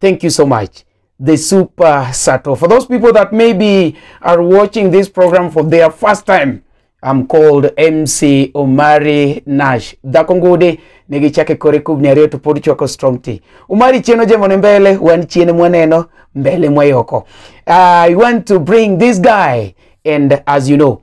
Thank you so much. The Super Sato. For those people that maybe are watching this program for their first time, I'm called MC Omari Nash. Dhako ngude nigichake kore kubni ariyo to pod chwako strong tea. Omari chien ojemo ne mbele, wan chien mwaneno, mbele mwayoko. I want to bring this guy and as you know,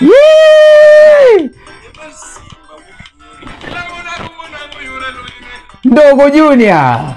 Yee! Ndogo Junior.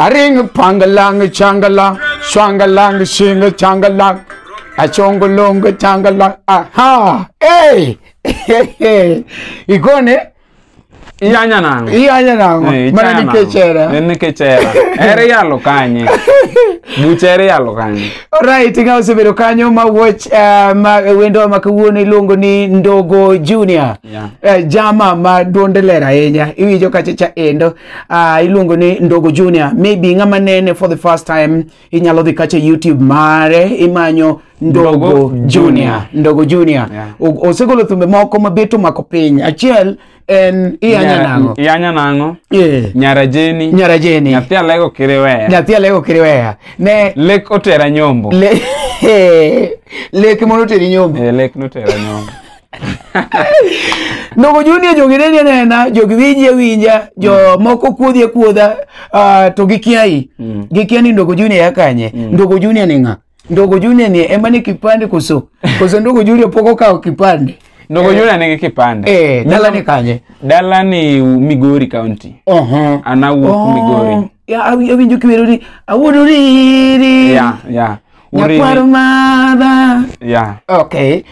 Aring pangalang changalang swangalang sing changalang achongolong changalang aha hey igone Iyanya nango. iyanya nango Eh, mana ichana nango. nikechera Eh, Nikechera. Ere yalo kanye. Bucha ere yalo kanye. Alright, nga osebedo kanyo ma watch uh, ma wendo ma kawuono iluongo ni Ndogo Junior. Yeah. Eh, jama ma duonde ler ahinya iwinjo kachacha endo uh, iluongo ni ndogo junior maybe ng'ama nene for the first time inyalo dhi kacha youtube mare imanyo ndogo, Ndogo junior. Junior. ndogo junior Yeah. O- osegolo thumbe moko mabet omako piny achiel en iyanya Nyara- nang'o Iyanya nang'o? Eh, Nyara Jeni. nyara jeni Nyathi alego kiriweya. nyathi alego kiriweya ne Lek otera nyombo. le, lek mondo oteri nyombo Eh, lek notera nyombo. Nogo Junior jogi neni anena, jogi winji awinja, jo moko kuodhi akuodha, ah, to gikiai. Mm. Gikia ni Ndogo Junior ya kanye. Mm. Ndogo Junior ni ng'a? Ndogo Junior ni ema ni kipande koso. Koso Ndogo Junior pok okawo kipande. Ndogo Junior nigi kipande. Eh, dala ni kanye. Dala ni Migori County. Oho. An awuok Migori. Ya, awi- awinjo kiwero ni awuodo riri. Yeah, yeah. Uriri. nyakwar madha Yeah. okay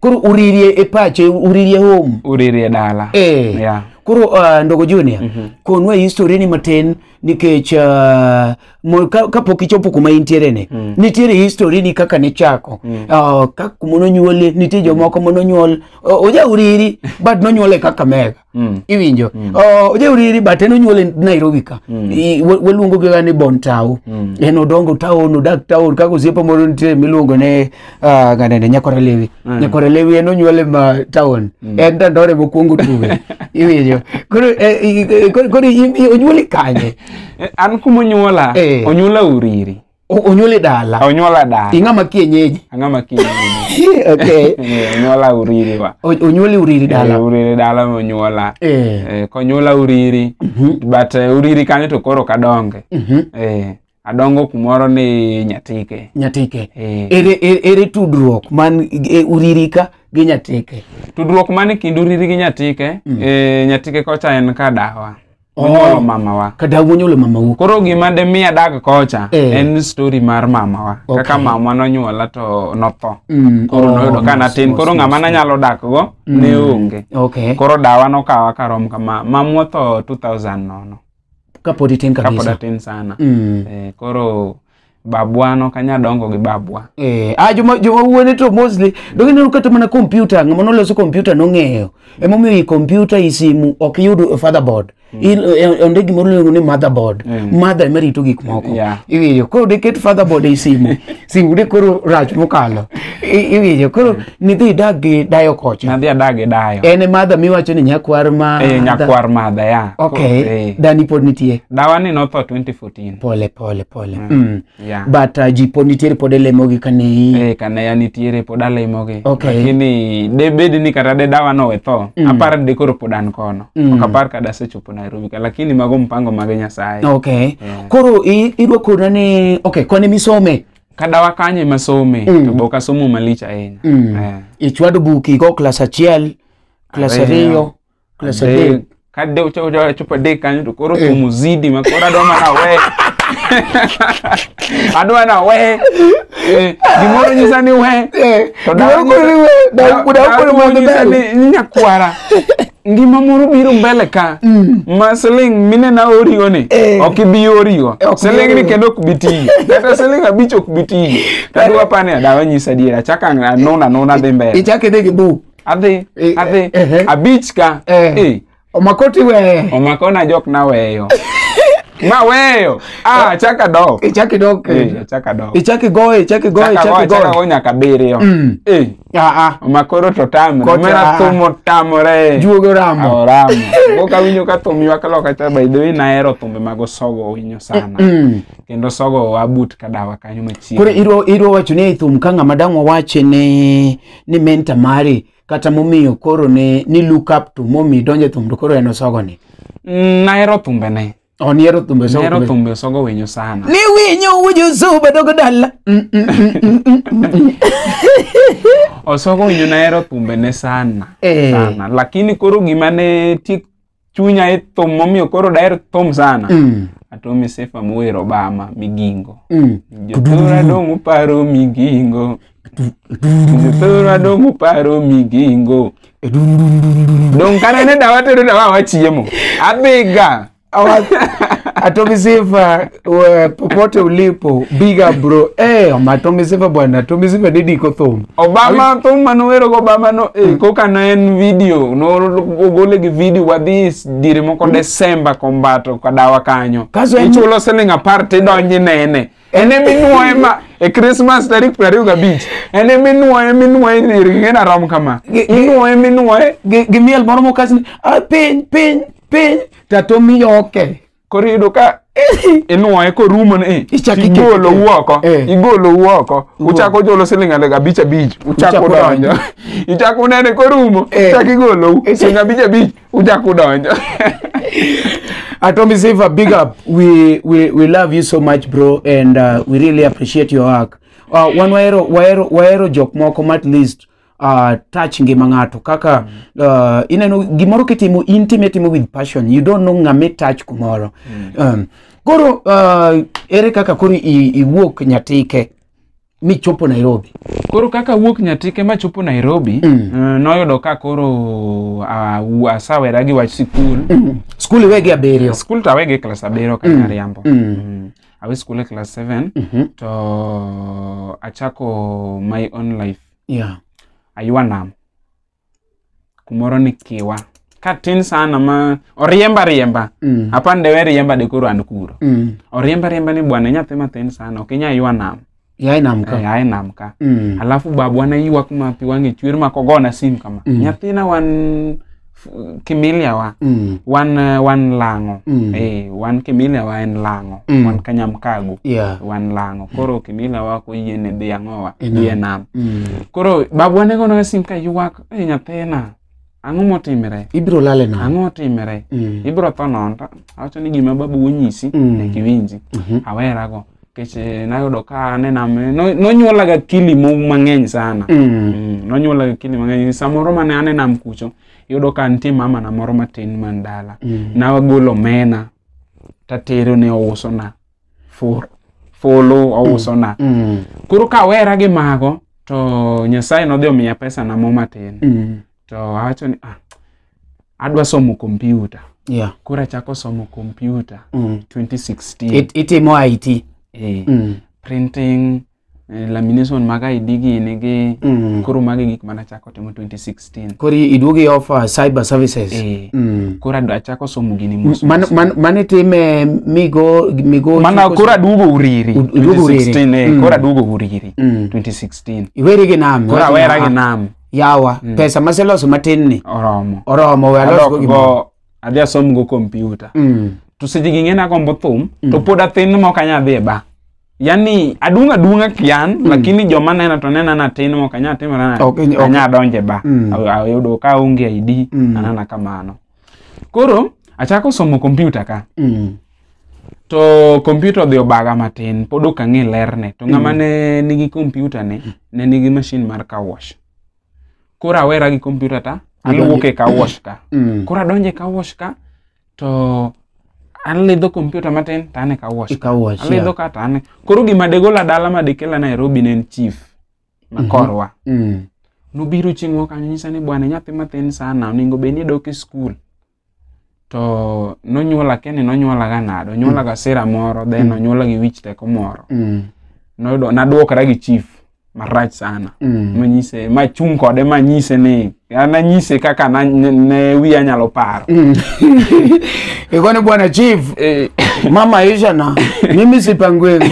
koro uririe e pache uririe home Uriri e dala. Eh. Yeah. Koro uh, ndogo Junior, konwa history ni matin nikech uh, mo- ka- kapok ichopo kuma intiere ni nitiere history ni kaka nichako uh, kaka kuma nonyuoli nitie jomoko ma nonyuol uh, oja uriri but nonyuol e Kakamega Mm. iwinjo Oh, ojauriri but en onyuole nairobi ka I- wa- waluongo giga ni bon tao en odongo taon odak taon kaka osiepe moro nitie miluongo ne ah, ganene nyakore lewi nyakore lewi en onyuole ma taon en dandore mokwongo tuwe iwinjo koro eh, i- i- koro- koro im- i- onyuoli kanye Eh, an kumonyuola Eh. onyuola uriri O- onyuoli dala onyuola dala ing'ama kienyeji ang'ama kienyeji okay Eh, onyuola uriri wa O- onyuoli uriri Eh, dala uriri dala monyuola Eh, Eh, konyuola uriri but eh, uriri kanyo to koro kadonge mhm. Eh, adongo kumoro ni nyatike nyatike Eh, ere, ere, ere tudruok man e, uriri ka gi nyatike tudruok man e kind uriri gi nyatike eh, nyatike kocha en ka dawa Onyuolo mamawa. Kadagu onyuolo mamau. Koro gima de mi adag kocha Eh. en story mar mamawa. Okay. Kaka mamwa nonyuola to notho. Mm, Koro oh, noyudo ka mos, natin. mos, Koro mos, ng'ama mos. nanyalo dakgo ne onge. Okay. Koro dawa nokawa karom kama. Mamwa otho 2000 nono. Kapod itin Kapod kabisa. atin sana. Mm. Eh, koro babwa no kanya dongo gi babwa Eh, ah, joma joma wuone to mostly donge neno kata mana kompyuta ng'ama noloso kompyuta nong'eyo emomiyo i kompyuta i simu ok yud fatherboard In- eh, onde gimoro iluongo ni motherboard mother ema rito gik moko Yeah. iwinjo koro diket fatherboard ei simu simu de koro rach mokalo I- iwinjo koro nidhi idag gi dayo kocha nadhi adag e dayo en e mother miwacho ni nyakwar ma eh, nyakwar madha ya okay Eh, dani pod nitie dawa ni notho 2014 tin pole pole pole Mm. mm. yeah. but uh, ji pod nitiere pod elemogi kane i Eh, kane ya nitiere pod alimogi Okay. lakini de bed ni kata de dawa no wetho Mm. apar de koro pod an kono Mm. ok apar kada asechopo nairobi ka lakini mago mpango mage nyasaye okay Yeah. koro i- irwakona ni okay kwane misome kadawa kanye masome Mm. to be ok asomo malich ahinya mm. Eh. ichwado buki go klas achiel klas Ariyo. ariyo Kule sa Dei. dei. kade ucha ucha wachupa dei kanyo to koro thum uzidi ma koro adwa mana we adwa mana we Eh, gimoro nyisa ni we to dawa Gimoro ni we, dawa- dawa- dawa koro mano nyisa dai. ni ni nyakwara ngima moro biro mbele ka ma siling mine na oriwo ni Eh. ok ibi oriwo Ok ibi siling ni oriwo. kendo ok bi tiyo kata siling abich ok bi tiyo tadwa pane dawa nyisa diera chaka anona anona dhi mbele Ichake dei ki bu. adhi Eh, adhi eh, eh. abich ka Eh. Eh, omakoti we omakona jok naweyo maweyo ah, chaka dok ichaki dok Eh, chaka dok ichaki goye ichaki goye Chaka go, ichaki chaka goye go nyaka biriyo Mm. Eh, aa omakoro to tamre Kocha. mera thum otamore juogo ramo oramo go kawinjo ka thum ywak loka cha by the way nahero thumbe mag osogo winyo sana Mm. kendo sogo abut kadawa kanyo machiegni koro idwa idwa wacho ni ei thum ka ng'ama dang' wawache ne ni menta mari kata momiyo koro ne ni look up to momi donje thum to koro en osogo ni Mm, nahero thumbe ne oh niero thumbe osogo nahero thumbe. thumbe osogo winyo sana ni winyo wujo zuba dogo dala Mm, mm, mm, mm, mm, mm. osogo winyo nahero thumbe ne sana Eh. sana lakini koro gima ne tiek chunya e thum momiyo koro daher thum sana Mm. atomi sifa mower obama migingo Mm. jothora dong uparo migingo jothora dong uparo migingo dong kane ne dawa tedo dawa wachiemo abiga Awa- Atomi Sifa we, popote ulipo big up bro eh ma Tommy Siva bwana Tommy Siva ni diko thum Obama thum mane owero go Obama no eh, koka ne en video no ogole gi video wadhi s- dire moko Desemba kombato kadawa kanyo Kaso en- ichulo siling apar tidonji nene en eminwoye ma e Christmas tarik piero ariyo gabich en eminwoye minwoye irgingena rom kama Gi- gi- inwoye minwoye gi gi miel moro mokasni ah piny piny piny ta Tommy yoke koro iyudo ka inuoye korumo ni Ichak ikete. igolo wuoko Eh. igolo wuoko uchako ujolo siling adek abich abich uchako Uchako donjo. donjo ichako unene korumo Eh. ichako igolou Eh. siling abich abich uchako udonjo Atomi Saver, big up. We, we, we love you so much, bro, and uh, we really appreciate your work. Uh, one waero, waero, waero jok moko at least uh, touch ngima ng'ato kaka mm. uh, ineno gimoro kitimo in time timo with passion you don't know ng'ame touch kumoro mm. um, koro uh, ere kaka koro iwuok nyatike michopo nairobi koro kaka wuok nyatike machopo nairobi mm. uh, noyudo ka koro uh, asawera gi wach sikul mm. skul iwegi abiriyo skul to awegi e klas abiriyo kata mm. ariambo mm. mm. awe skul e klas 7 mm -hmm. to achako my own life Yeah. aywa nam kumoro ni kiwa ka tin sana ma oriemba riemba Mm. apani dewe riemba de koro an kuro Mm. oriemba riemba ni bwana nyathi matin sana ok inya ywa nam Yai nam Eh, ka. ae nam ka Mm. alafu babwa ne ywak ma pi wang'e chwer ma kogona sim kama Mm. nyathina wan f- kimilia wa Mm. wan eh, wan lang'o Mm. eh, wan kimilia wa en lang'o Mm. wan kanyamkago Yeah. wan lang'o koro kimilia wa ko yie ne dhi ang'owa E nam. yie nam Mm. koro babwa ne gonoga sim ka ywak e nyathina ang'o motimre Ibiro lale na. ang'o otimre Mm. ibiro tho nono to awacho ni gima babu onyisi Mm. nyaka iwinji Mhm. awerago nikech eh, nayudo ka ane nam eh, no- nonyuolaga kili mo- mang'eny sana Mm. Mm, nonyuolaga kili mang'eny samoro mane ane nam kucho yudo ka nitie mama na moro matin man dala Mm. nagolo omena tatero ne ousona fur fulu ousona Mm. koro kawera gi mago to nyasaye nodhi omiya pesa na mo matin Mm. to awacho ni ah, adwa somo kompyuta Yeah. koro achako somo kompyuta Mm. 2016 It, itimo IT. eh, Mm. printing eh, lamination mag ID gini gi Mm. koro magi gik mana achako timo 2016 Koro iduogo i offer cyber services. eh, Mm. koro adwa achako somo gini mos Man, mos. man, mane time migo migo mana chiko- koro aduogo uriri Ud- iduogo uriri. 2016 eh, Mm. koro aduogo uriri Mm. 2016 Iweri gi nam. koro iweri awera gi nam. nam yawa Mm. pesa maseloso matin ni oromo oromo we alos go adok gimoro go adhi asom go kompyuta Mm. to seche gi ng'e nagombo thum to pod athin mok anya dhi e ba yani adung' adung'a kian lakini joma nena to nena na tin mok anya timore na- Ok, ok. anya donje ba Mm. ayudo ka onge ID Mm. anana kamano koro achako somo kompyuta ka Mm. to kompyuta odhi obaga matin pod ok ang'e lerne to ng'ama ne nigi kompyuta ne ne nigi mashin mar car wash koro awera gi kompyuta ta aluwuok e car wash ka Mm. koro adonjo e car wash ka to alidho kompyuta matin to an e car wash ka. Ikawo wash, alidho yeah. ka to an e- koro gima degola dala ma dekela nairobi ne en chief ma korwa Mm. nobiro chieng' moro kanyo nyisa ni bwana nyathi mathin sana onego bed ni idok e skul to nonyuola kia ni nonyuola ga nade onyuola ga sira moro then Mm. onyuola gi wich teko moro Mm. noyudo naduokra gi chief marach sana Mm. manyise machung' kode manyise ni ananyise kaka na- ne ne wiya nyalo paro ikoni bwana chief Eh, mama isha na mimi sipangweni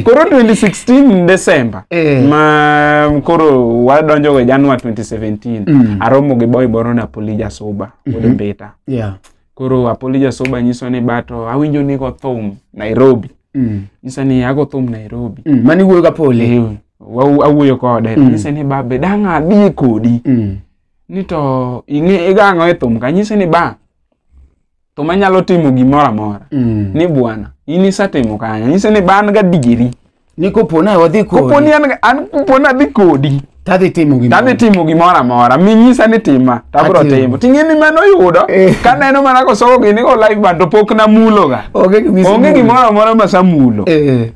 koro 2016 december Eh. ma koro wadonjogo e januar 2017 aromo gi boy moro napoli jasuba wuod mbita yeah. koro apoli jasoba nyiso ni bato awinjo ni go thum nairobi mm. nyisa ni ago thum nairobi mm. mani wuoyo ga poli awuoyo kode mm. nyisa ni babe dang' adhi kodi mm. ni to ing'e igang'o e thum ka nyisa ni ba to manyalo timo gimoro amora mm. ni bwana in isetimo kanyo nyisa ni ban ga digiri ni kopo na wadhi kodi kopo ni an an kopo na dhi kodi tadhi timo gima tadhi timo gimoro amora minyisa ni tima tabro Atimo. timo ting'e ni mano yudo Eh. kaneno mana kosoko gini go live band to pok namuloga onge gimisi onge gimoro amora ma samulo eh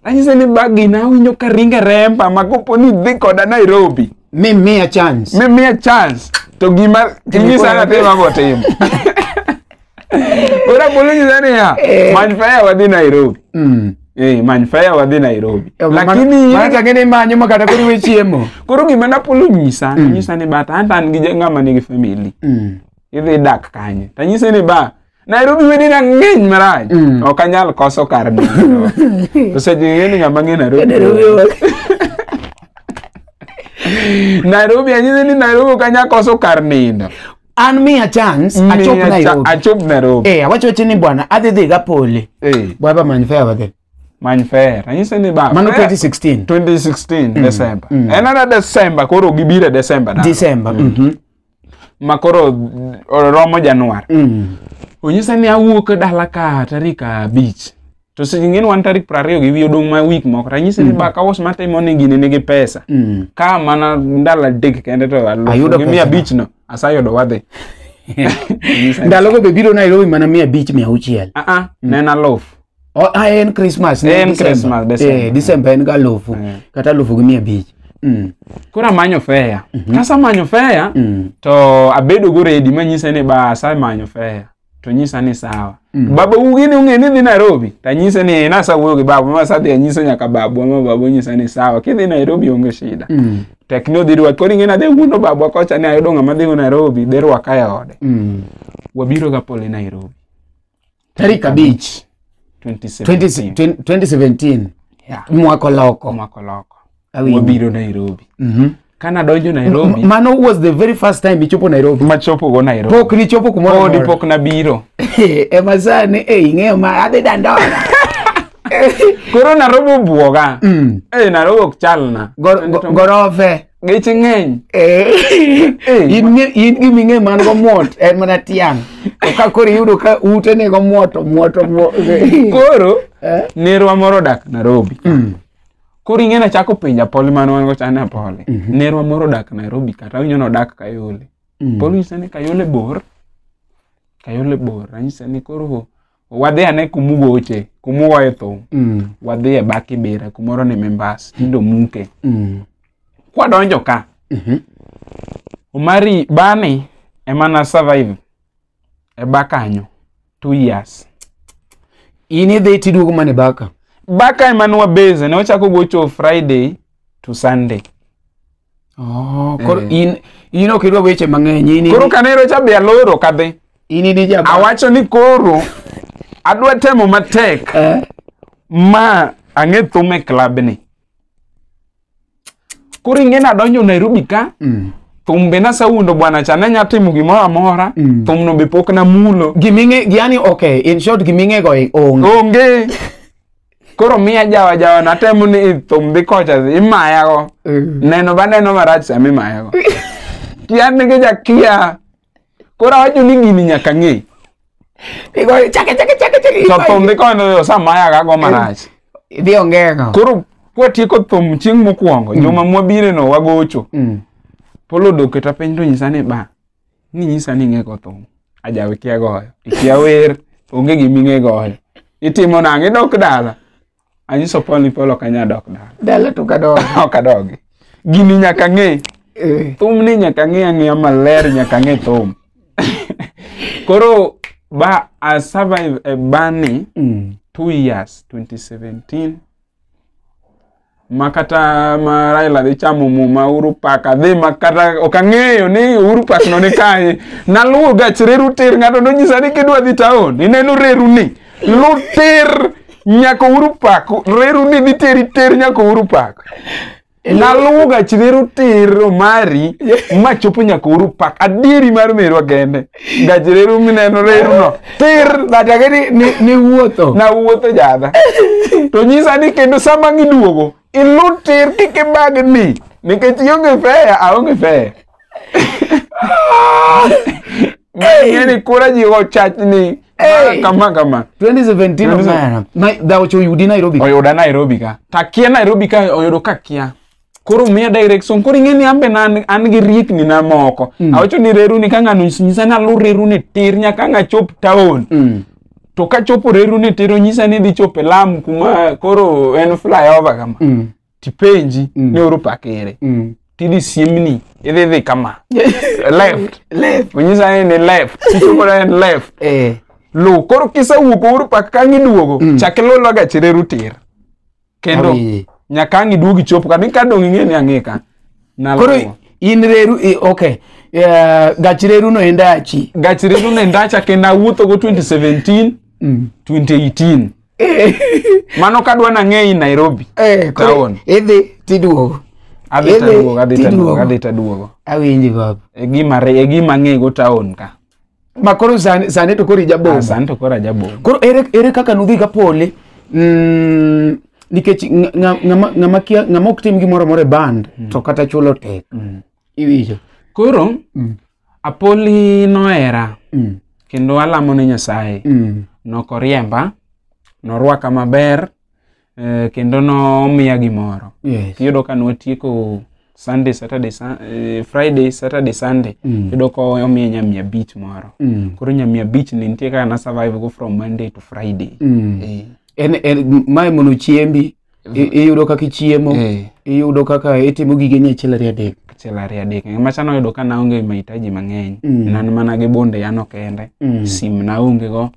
anyise ni bagi na awinjo ka ringe remba ma kopo ni dhi koda nairobi mi miya chance mimiya chance to gima inyisa natimo abotimo Ora bolo nyisa niya, Eh. many faya wadhi Nairobi. Mm. Eh, many faya wadhi Nairobi. Eh, ma- Lakini ma change ni manyo ma kata koro iwe chiemo. koro gima napolo nyisa, nyisa ni bata anta an gi ja- ng'ama nigi family. Mm. Idhi dak kanye. Tanyise ni ba Nairobi wedi na ng'eny marach. Mm. Ok anyal koso kar nindo. To seche ng'e ni ng'ama ng'e Nairobi. Nairobi ok. Nairobi anyise ni Nairobi ok anyal koso kar nindo. an miya chance achop Miya cha- nairobi achop nairobi eh awacho wacho ni bwana adhi dhi ga pole Eh, bwana ba many fair wadhi many fair anyise ni ba mano fair. 2016 2016 December. mm. En ana December koro gibire December na. december mhm Ma koro mm, romo Januar. mm Onyisa ni awuok dala ka tarik abich. to seche ing'e ni wan tarik piero ariyo gi wiye odong' ma wik moko ranyisi ni baka us matimo ni gini nigi pesa Mm. ka mana ndalo adek kende to Ayudo alufu gi mia pesa. abich no asayudo wadhi Nyisa ni- ndalogo be biro nairobi mana mia abich mia auchiel Ah, ah, ne en aluf O- ah, en christmas ne En December. Christmas, December. Eh, december en ga alufu Mm. kata alufu gi mia abich Mm, koro amanyo feya kasamanyo feya mm, to abedo go redi manyise ni ba asemanyo feya to nyisa ni sawa mm. baba ugini ung'e ni dhi nairobi tanyise ni nasawuoyo gi babu ma sadhi anyiso nyaka babu ama babu nyisa ni sawa kidhi nairobi onge shida mm. tek ni odhi rwaki koro ing'e nadhi wuondo babwa kocha ni ayudo ng'ama dhigo nairobi dhi rwaka e ode mm. wabiro ga pole nairobi tarik abich 2017 2017 yeah. mwako loko mwako loko Awinjo. wabiro nairobi Mhm. kana donjo nairobi mano was the very first time ichopo nairobi machopo go nairobi pok nichopo kumoro podi amora. pok nabiro ema sani e ing'eyo ma adhi dandora koro narobi obwoga Mm. Eh, narobi ok chalna Gor- go- gorofe geche ng'eny Eh, Eh. in nge- in gima ing'e man go mwot en mana tiang' to ka koro iyudo ka ute ne go mwoto mwoto mwo- koro Eh? nerwa moro odak nairobi Mm. Koro ing'e nachako penja Poli mane wan go cha ne Poli. Mhm. Nerwa moro odak Nairobi kata awinjo nodak Kayole. Mm. Poli nyisa ni Kayole bor. Kayole bor. Anyisa ni koro wadhi ane kumugoche, kumugoye thum. Mm. Wadhi e back Ibira kumoro ni Mimbas, tindo muke. Mm. Kwadonjo ka. Mhm. Omari bani ema na survive e bakanyo two years in idhi tiduogo mana e baka baka ema nwa base ne wachako gocho friday to sunday oh, koro Eh. in in ok idwa weche mang'eny in koro kanero cha be aloro kadhi in in ja awacho ni koro adwa temo matek eh ma ang'e thum e club ni koro ing'e nadonjo nairobi ka Mm. thum be nasawuondo bwana cha ne nya timo gimoro amora Mm. thumno be pok namulo Giming'e yani okay, in short giming'e go onge. onge koro miya jawa jawa natemo ni thum dhi kocha dhi imayago Mm. neno baneno marach sama imayago kian nigi jakia Koro awacho ni gini nyaka ng'e. Igoyo chake chake chake chake. To thum dhi konyo yo sama ayaga go marach. Idhi ongeng'o. Koro kwatieko thum chieng' mokwongo, juma mwabireno wagocho. Mm. Polo odok keta piny to nyisa ni ba, ni nyisa ni ing'e go thum. Ajawe kia goyo, ikia wer, onge gima ing'e goyo. Itimo nang'o, idok dala. Anyiso Paul ni Paul ok anya dok dala. Dala to kadog. ok adogi. Gini nyaka ng'e. Eh. Thum ni nyaka ng'e ang'eya maler nyaka ng'e thum. Koro ba I survive a bani mm. two years 2017 makata ma Raila dhi chamo muma Uhuru Park adhi makata ok ang'eyo ni Uhuru Park no ni kanye naluwo gach reru tir ng'ato nonyisa ni kidwa dhi taon ineno reru ni luter nyako uru pako reru ni niteri ter nyako uru pako naluwo gach reru ter omari ma chopo nyako uru pako adieri mar merwa gende gach reru mineno reru no ter Nataka ni, ni, ni wuotho. nawuotho jadha to nyisa ni kendo sama giduogo Ilu tir kik ibagni nikech ionge fea aonge fea. Ng'e ni kura ji ochachni Hey. kama kama. 2017 of Nairobi. na dhaocho yudi Nairobi oyuda Nairobi ka takia Nairobi ka oyudo ka kia koro miya direction koro ing'e ni ambe na an gi riekni na moko awacho ni reru ni ka ng'ano nyisa ni alu reru ni tir nyaka ng'a chop town Mm. to ka chopo reru ni tero nyisa ni dhi chopo e lam kuma koro en flyover kama Mm. tipenji Mm. ni oro pakere Mm. tidhi siemni idhi dhi kama left Left. onyisa ni ni left kichopo na en left Eh. lu koro kisewuok uru pak kang iduogo Mm. chak iluloga chireru tir kendo Awi. nyaka ang' iduog ichop ka ni ka dong' ing'e ni ang'e ka Nalo. koro in reru i- okay Eh, gach reru no enda achi gach reru ne ndacha kendo awuothogo 2017 2018 Eh, mano ka dwa nang'e i nairobi eh, koro Town. idhi tiduogo adhi Idhi, taduogo adhi taduogo tiduogo. adhi taduogo awinji baba e gima re- e gima ang'ego town ka ma koro sani sani to koro Ah, ijabomba sani to koro ajabomba koro ere, ere kaka nudhi ka pole mm, nikech nga- nga- ng'ama ng'ama kia- ng'ama ok tim gimoro amora e band to kata chulo tek iwinjo koro Mm. apoli nohera Mm, kendo alamo ne nyasaye mm, nokoriemba norwaka maber eh, kendo nomiya gimoro Yes. iyudo ka nwatieko sunday saturday Sun- eh, friday saturday sunday Mm. iyudo ka omiya nyamia beach moro Mm. koro nyamia beach ni nitie kaka na survive go from monday to friday Mm. Eh, En, en, mae mono chiembi i- iyudo kaka ichiemo eh, iyudo kaka itimo gige ni achiel ariyo adek achiel ariyo adek macha noyudo ka naonge mahitaji mang'eny Mm. nan mana gi bunde yano kende Mm. sim naonge go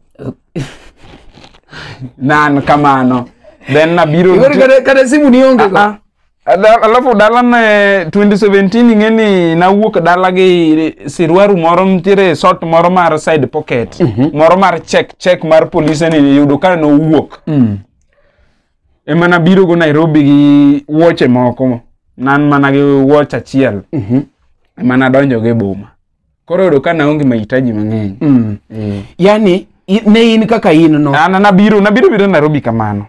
nan kamano then nabiro Igori nitie- kata- kata simu nionge go. Ah, ah. Da- alafu dala ne 2017 ing'e ni nawuok dala gi sirwaru moro nitiere sot moro mar side pocket moro mar check check mar polise ni yudo ka nowuok Mm. ema nabiro go nairobi gi wuoche moko nan mana gi wuoch achiel Mhm. ema nadonjo go e boma koro yudo ka naonge mahitaji mang'eny Mm. Eh. yani i- ne in kaka in no An nabiro nabiro biro Nairobi kamano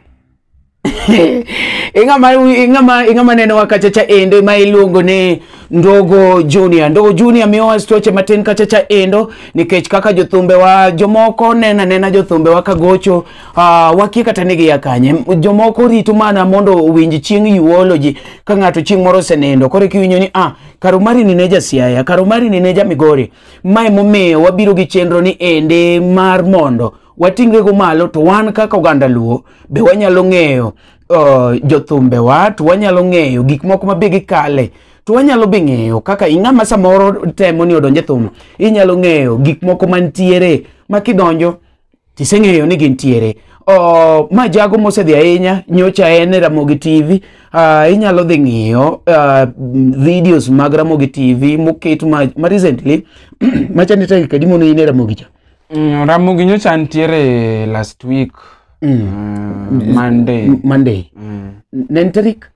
ing'ama ing'ama ing'ama neno wakachacha endo ma iluongo ni ndogo junior ndogo junior miyowa stoche matin kachacha endo nikech kaka jothumbe wa jomoko nena nena jothumbe wa kagocho uh, wakie kata ni giya kanye M- jomoko rito mana mondo owinj chieng' yuoloji ka ng'ato chieng' moro osenindo koro kiwinjo ni ah Kar Omari ni ne ja Siaya, kar Omari ni ne ja Migori. Mae momiyo wabiro gi chenro ni ende mar mondo wating'rego malo to wan kaka oganda Luo be wanyalo ng'eyo uh, jothumbewa to wanyalo ng'eyo gik moko ma be gikale to wanyalo be ng'eyo kaka ing'ama samoro temo ni odonje thum inyalo ng'eyo gik moko mantiere ma kidonjo Tiseng'eyo ni gintiere. Oh, ma jago mosedhi ahinya nyocha en e Ramogi TV. Uh, ah, inyalo dhi ng'iyo uh, videos mag Ramogi TV moket ma, ma recently machani tagi kadi mono in e Ramogi cha. Mm, Ramogi nyocha ntiere last week. Mm. Uh, Monday. Monday. Mm. Nen tarik?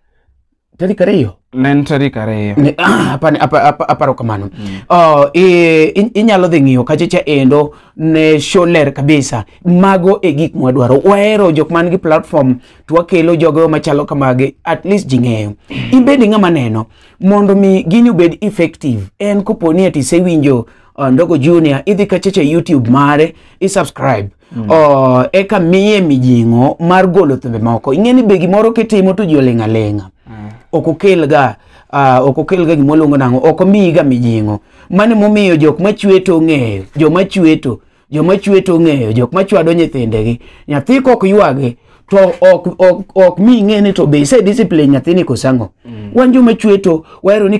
tarik ariyo ne en tarik ariyo Ne- ah, apani- apa- apa- aparo kamano Oh, i- i- inyalo dhi ng'iyo kachacha endo ne show ler kabisa mago e gik mwadwaro wahero jok man gi platform to wakelo jogo machalo kamagi at least ji ng'eyo ibedi ng'ama neno mondo mi gini obed effective en koponi ati isewinjo uh, ndogo junior idhi kachacha youtube mare isubscribe Mm. Oh, eka miye mijing'o mar golo thumbe moko ing'e ni be gimoro kitimo to ji oling' aling'a mm. ok okelga uh, ok okelga gima oluongo nang'o ok omiyiga mijing'o mano emomiyo jok machweto ong'eyo joma chweto joma chweto ong'eyo jok machwado nyithindegi nyathi kok ywage to ok ok ok mi ing'e ni to be isediscipline nyathini kosang'o mm. wan joma chweto wahero ni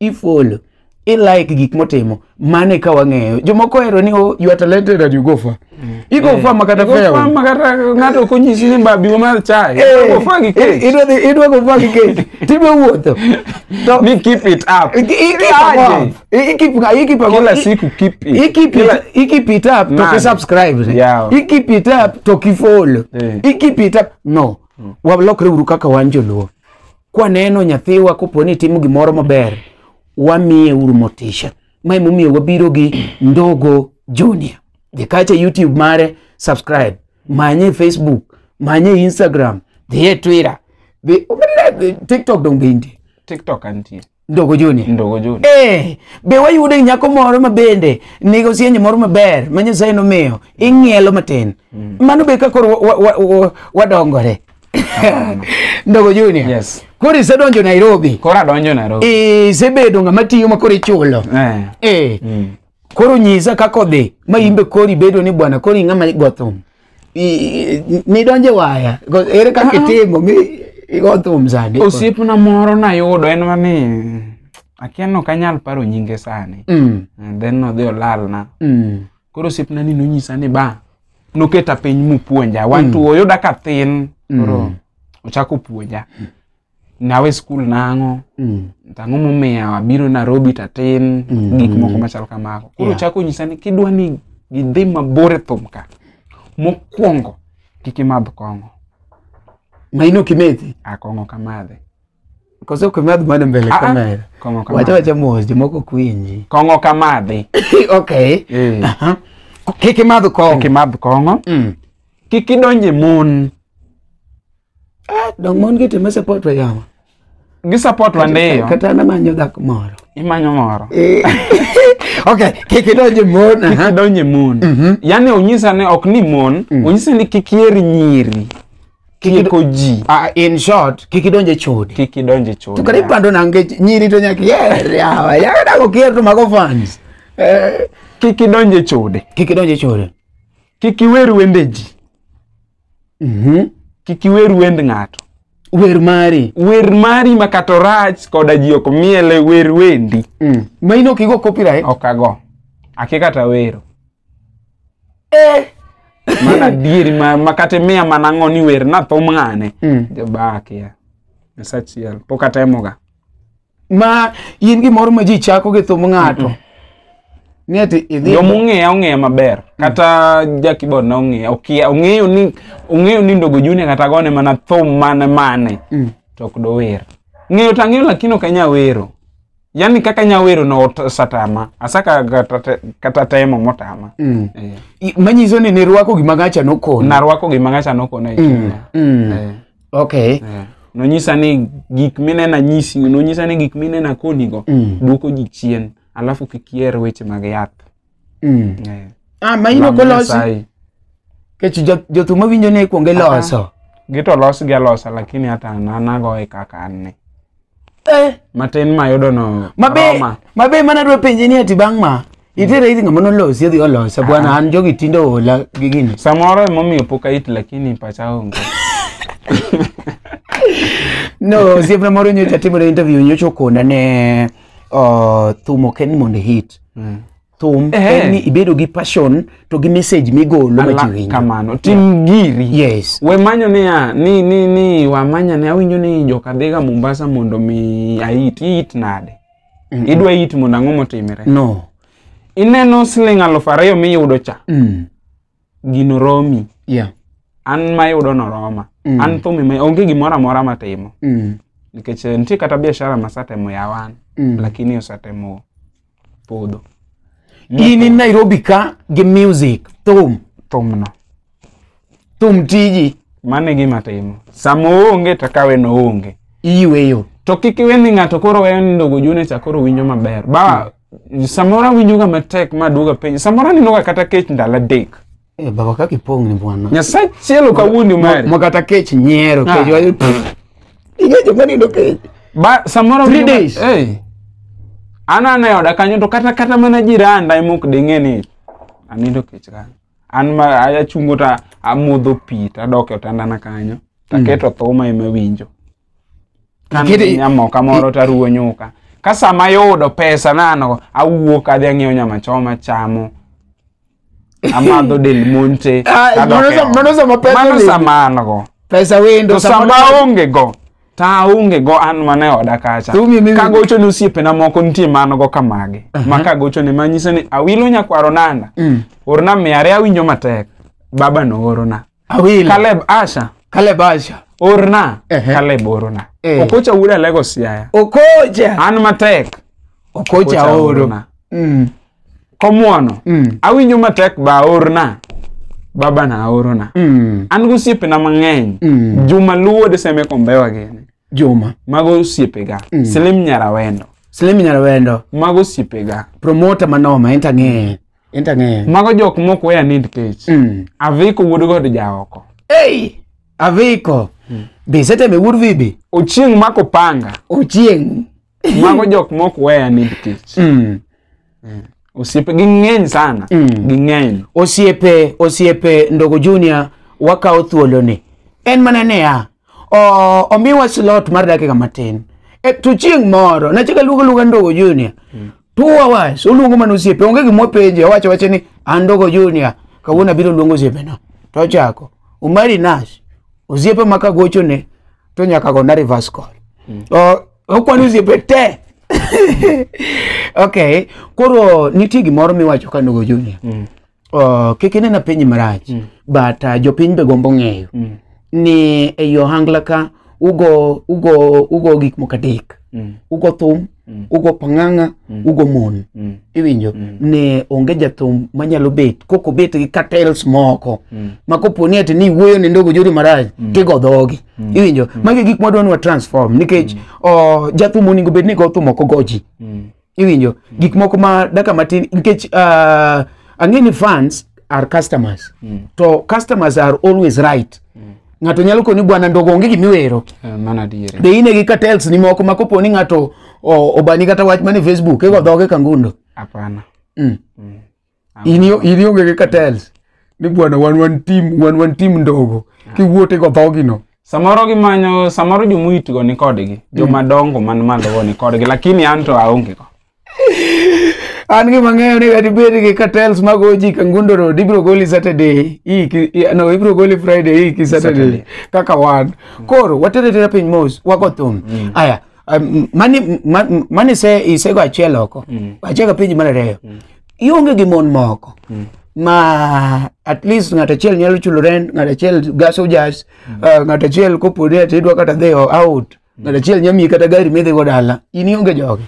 ifollow i like gik motimo mane ka wang'eyo jomoko ohero ni oh, you are talented and you go far mm. i go eh. far ma kata fair far ma kata ng'ato ok onyisi ni mbabi ma mar chai eh. go far gi kech idwa dhi idwa go far gi kech tibe wuotho to ni keep it up i keep up i keep i keep up kila siku keep it i keep it i keep it up to ki subscribe yeah. i keep it up to ki follow eh. i keep it up no mm. walokre uru kaka wan joluo kwaneno nyathiwa kopo ni timo gimoro maber wamiye uru motisha ma emomiyo wabiro gi ndogo junior dhi kacha youtube mare subscribe manye facebook manye instagram dhiye twitter dhi tiktok donge intie TikTok antie. ndogo joni ndogo joni eh be wayude nyako moro ma bende nigo sienye moro maber ma nyasaye nomiyo ing'ielo matin mm. mano be ka koro wadongore ndogo joni yes koro isedonjo nairobi koro adonjo nairobi isebedo ng'ama tiyo ma koro ichulo eh. Eh. Mm. koro nyisa kaka odhi ma in be kori bedo ni bwana koro ing'ama go thum I- i- nidonje waya Go- ere kaka itimo mi igo thum sani osiepna moro nayudo en mani akia ni ok anyal paro nyinge sani Mm, And then nodhi olalna mm, koro osiepna ni nonyisa ni ba noketa piny mopuonja wantu oyuda ka thin koro ochako puonja nawe skul nang'o Mm. tang'o momiyo abiro Nairobi tatin Mm. gik moko machal kamago koro Yeah. chako nyisa ni kidwa ni gidhi mabor e thum ka mokwongo kik imadh kong'o maino kimethi a kong'o kamadhe koso kimadh mano mbele Ah, ah. kamera kong'o wacha kamadhe wacha mos jomoko kwinji kong'o kamadhe okay Eh. Aha. kik imadh kik kong imadh kong'o Mm. kik idonje mon Ah, dong mon gi time support wa yawa. Gi support wa ndeyo. Kata na manyo dak moro. Imanyo moro. Eh. okay, kiki donje mon. Kiki donje mon. Mm -hmm. Yani onyisa ne ok ni mon, mm. onyisa ni kiki eri nyiri. Kiki ko ji. Ah, in short, kiki donje chode. Kiki donje chode. Tukari yeah. pando nange nyiri to nyaki yer yawa. Yawa da ko kier to mago fans. Eh. Kiki donje chode. Kiki donje chode. Kiki weru wendeji. Mhm. kik iwer wend ng'ato Wer mari. wer mari ma kata orach koda ji ok miele wer wendi Mm. Ma in ok igo copyright. ok ago ake kata wero Eh. mana adieri ma, ma kata imiya mana ang'o ni wer nathum ng'ane Mm. jabaakia nyasachiel pok atemoga ma in gimoro ma ji chako gi thum ng'ato ni ati idhi joma ong'eya ong'eya maber kata ja keyboard na ong'eya okia ong'eyo ni ong'eyo ni ndogo junior kata gone mana thum mane mane Mm. to ok dower ng'eyo to ang'eyo lakini ok anya wero yani kaka anya wero no ot- osatama asaka kata te- kata temo motama Mm. Eh, I- manyiso ni nirwako gima gacha nokoni narwako gima ng'acha nokona e chunya Mm. Eh. okay Eh, nonyisa ni gik minena nyisi nonyisa ni gik minena konigo Mm. duoko ji chien alafu kik iher weche mag yath mm. Eh, ah ma ino lam kolosi Nyasaye. kech jo- jothum mawinjo ni ikwonge loso gito losgi alosa lakini hata an anagoye kaka an ni Eh, matin mayudo no mabe Roma. mabe mana dwa penje ni ati bang' ma itere iri ng'ama nolosi adhi olosa bwana an jogi tinde oola gi gini samoro emomiyo pok ait lakini pacha onge no osiepna moro nyocha timore interview nyocha okona ne uh, thum ok en mondo hit Mm. thum Ehe. en ni ibedo gi passion to gi message migolo ma ji Ala- winjo kamano tim giri yes we manyo niya ni ni ni wamanya ne awinjo ni joka dhiga mombasa mondo mi ait iit nade idwa it mondo ang'o motimre no ineno siling alufu ariyo miyudo cha mm. gino romi yeah. an mayudo noroma Mm. an thumi ma onge gimoro amora matimo mm. nikech eh, nitie kata biashara masatemo yawan Mm. lakini osatemo podho in in nairobi ka gi music thum thumno thum tiji mano e gima timo sama oonge to kawe noonge iyweyo to kik iwe ni ng'ato koro weyo ni ndogo june cha koro winjo maber ba Samoro awinjoga matek ma aduoga piny. Samoro anenoga kata kech ndalo adek. Eh, baba kaka ipong' ni bwana. Nyasaye chielo kawuondi mari. Ma kata kech nyiero, Ah. kech wayo. Ing'e joma nindo kech. Ba samoro Three awinjoga- days. Eh. An an e oda kanyo to kata kata mana jiranda ema ok ding'e ni anindo kech kanyo. An ma a- achungo ta amodho pi tadok e otandana kanyo. Taketo thuma ema winjo. Kane Kidi- nyamoka moro to aruwo nyuka. Ka sama ayudo pesa nano, awuok adhi ang'iewo nyama choma achamo. Amadho del monte. Ah, kadok mano e sa- ot. mano sama pesa Mano olimi. sama an go. pesa wendo To sama aonge go, to aonge go an mana e oda kacha. To umi- mi- Ka gocho ne osiepena moko nitie ma an go ka mage. Ma ka gocho ne ma nyiso ni awilo nyakwaro nanda. Mm. Orna mia ariyo awinjo matek. Baba noorona. Awilo. Caleb Asha Caleb Asha. orna Ehe. Caleb orna Eh. Okocha wuod Alego Siaya Okocha. an matek Okocha Okocha oro. orna. Mm. komwono Mm. awinjo matek ba orna baba na orona Mm. an gi osiepena mang'eny Mm. juma luwo deseme kombewa gini Juma. mago osiepega Mm. silim nyarawendo Slim Nyarwendo. mago osiepega Promoter manoma enta ng'e. Enta ng'eyo. Mago jok mok weya need page. Mm. Aviko wuod god jaoko. Hey! Aviko. Mm. Be seteme wuod vibi. Ochieng mako panga. Ochieng. Mago jok mok weya need page. Mm. Mm. Osiepe ging'eny sana. Mm. Ging'eny. Osiepe, osiepe ndogo junior wakawo thuoloni. En mana ne ya. O- omiwa slot mar dakika matin e, to chieng' moro nachaka luongo luonga ndogo junior two hours oluongo mana osiepe onge gima openje owacho wache ni an ndogo junior kawuono abiro luongo osiepena to ochako umari nas osiepe ma kagochone to nyaka gona reverse call O- okwano osiepe te okay koro nitie gimoro miwacho ka ndogo junior uh, kik inena piny marach mm. but uh, jopiny be gombo ng'eyo mm. ni ei ohangla ka ugo ugo ugo gik moko adek mm. ugo thum mm. ugo pang'ang'a mm. ugo mon mm. iwinjo mm. ne onge jathum manyalo bet koko bet gi cartels moko mm. ma kopo ni ati ni wuoyo ne ndogo jori maraj mm. tigo dhogi mm. iwinjo mm. magi gik mwadwa ni wa transform nikech mm. oh, jathum oningo bed ni go thum ok ogoji mm. iwinjo gik moko ma daka matin nikech uh, ang'e ni fans are customers mm. to customers are always right mm. ng'ato nyalo koni bwana ndogo onge gimiwero Eh, mano adieri be ine gi cartels ni moko ma kopo ni ng'ato o- obani kata wach mane facebook ego dhoge kangundo hapana mm. in yo- in ionge gi cartels ni bwana wan wan team wan wan team ndogo kiwuot igo dhogino samoro gimanyo samoro jomuitgo ni kodgi jomadongo man malogo ni kodgi lakini an to aonge go an gima ng'eyo ni kata ibed gi cartels mago ji kangundo road ibiro goli saturday hii ki- i- no ibiro goli friday hii ki saturday Saturday. kaka wan koro watere tera piny mos wago thum aya Um, mani ma- m- mani se isego achiel oko Mm. achaka penji mar ariyo Mm. ionge gi mon moko Mm. ma at least ng'at achiel nyalo chulo rent ng'at achiel gaso jas uh, ng'at achiel kopo ni ati idwa kata dhi o- out ng'at achiel nya miyi kata gari midhigo dala in ionge jogi